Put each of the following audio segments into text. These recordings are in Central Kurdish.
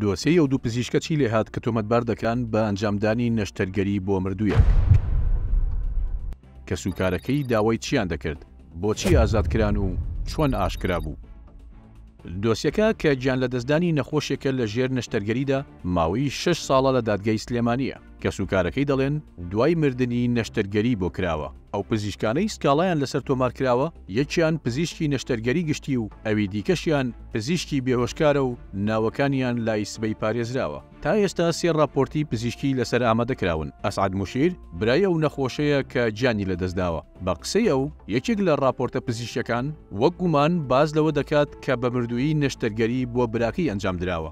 دۆسێی ئەو دوو پزیشکە چی لێهات کە تۆمەتبار دەکران بە ئەنجامدانی نەشتەرگەری بۆ مردوویەک؟ کەسوکارەکەی داوای چییان دەکرد؟ بۆچی ئازاد کران و چۆن ئاشکرا بوو؟ دۆسیەکە کە گیانلەدەستدانی نەخۆشێکە لە ژێر نەشتەرگەریدا، ماوەی شەش ساڵە لە دادگای سلێمانییە، کەسوکارەکەی دەڵێن دوای مردنی نەشتەرگەری بۆ کراوە، ئەو پزیشکانەی سکاڵایان لەسەر تۆمارکراوە یەکیان پزیشکی نەشتەرگەری گشتی و ئەوی دیکەشیان پزیشکی بێهۆشکارە و ناوەکانیان لای سبەی پارێزراوە، تا ئێستا سێ ڕاپۆرتی پزیشکی لەسەر ئامادەکراون، ئەسعەد موشیر برای ئەو نەخۆشەیە کە گیانی لەدەستداوە، بە قسەی ئەو یەکێک لە ڕاپۆرتە پزیشکیەکان وەک گومان باس لەوە دەکات کە بە مردوویی نەشتەرگەری بۆ براکەی ئەنجامدراوە.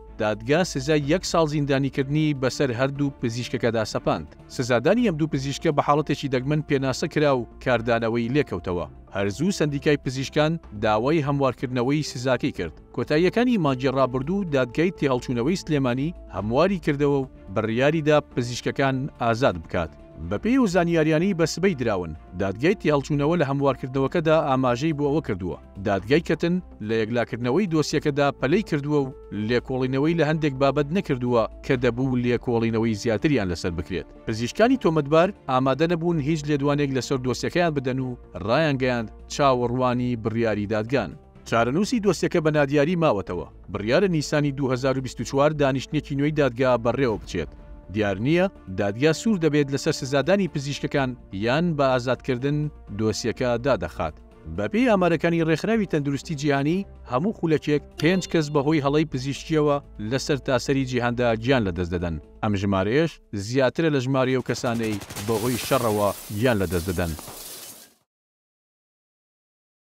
دادگا سزای یەک ساڵ زیندانیکردنی بەسەر هەردوو پزیشکەکەدا سەپاند، سزادانی ئەم دوو پزیشکە بە حاڵەتێکی دەگمەن پێناسە کرا و کاردانەوەی لێکەوتەوە. هەر زوو سەندیکای پزیشکان داوای هەموارکردنەوەی سزاکەی کرد. کۆتاییەکانی مانگی ڕابردوو دادگای تێهەڵچوونەوەی سلێمانی هەمواری کردەوە و بڕیاری دا پزیشکەکان ئازاد بکات. بەپێی ئەو زانیاریانەی بە سبەی دراون، دادگای تێهەڵچوونەوە لە هەموارکردنەوەکەدا ئاماژەی بۆ ئەوە کردووە، دادگای کەتن لە یەکلاکردنەوەی دۆسیەکەدا پەلەی کردووە و لێکۆڵینەوەی لە هەندێک بابەت نەکردووە کە دەبوو لێکۆڵینەوەی زیاتریان لەسەر بکرێت. پزیشکانی تۆمەتبار ئامادە نەبوون هیچ لێدوانێک لەسەر دۆسیەکەیان بدەن و رایانگەیاند چاوەڕوانی بڕیاری دادگان. چارەنووسی دۆسیەکە بە نادیاری ماوەتەوە، بڕیارە نیسانی دوو هەزار و بیست و چوار دانیشتنێکی نوێی دادگا بەڕێوەبچێت. دیار نییە دادگا سوور دەبێت لەسەر سزادانی پزیشکەکان یان بە ئازادکردن دۆسیەکە دادەخات. بەپێی ئامارەکانی ڕێکخراوی تەندروستی جیهانی، هەموو خولەکێک پێنج کەس بەهۆی هەڵەی پزیشکییەوە لە سەرتاسەری جیهاندا گیان لەدەست دەدەن، ئەم ژمارەیەش زیاترە لە ژمارەی ئەو کەسانەی بەهۆی شەڕەوە گیان لەدەست دەدەن.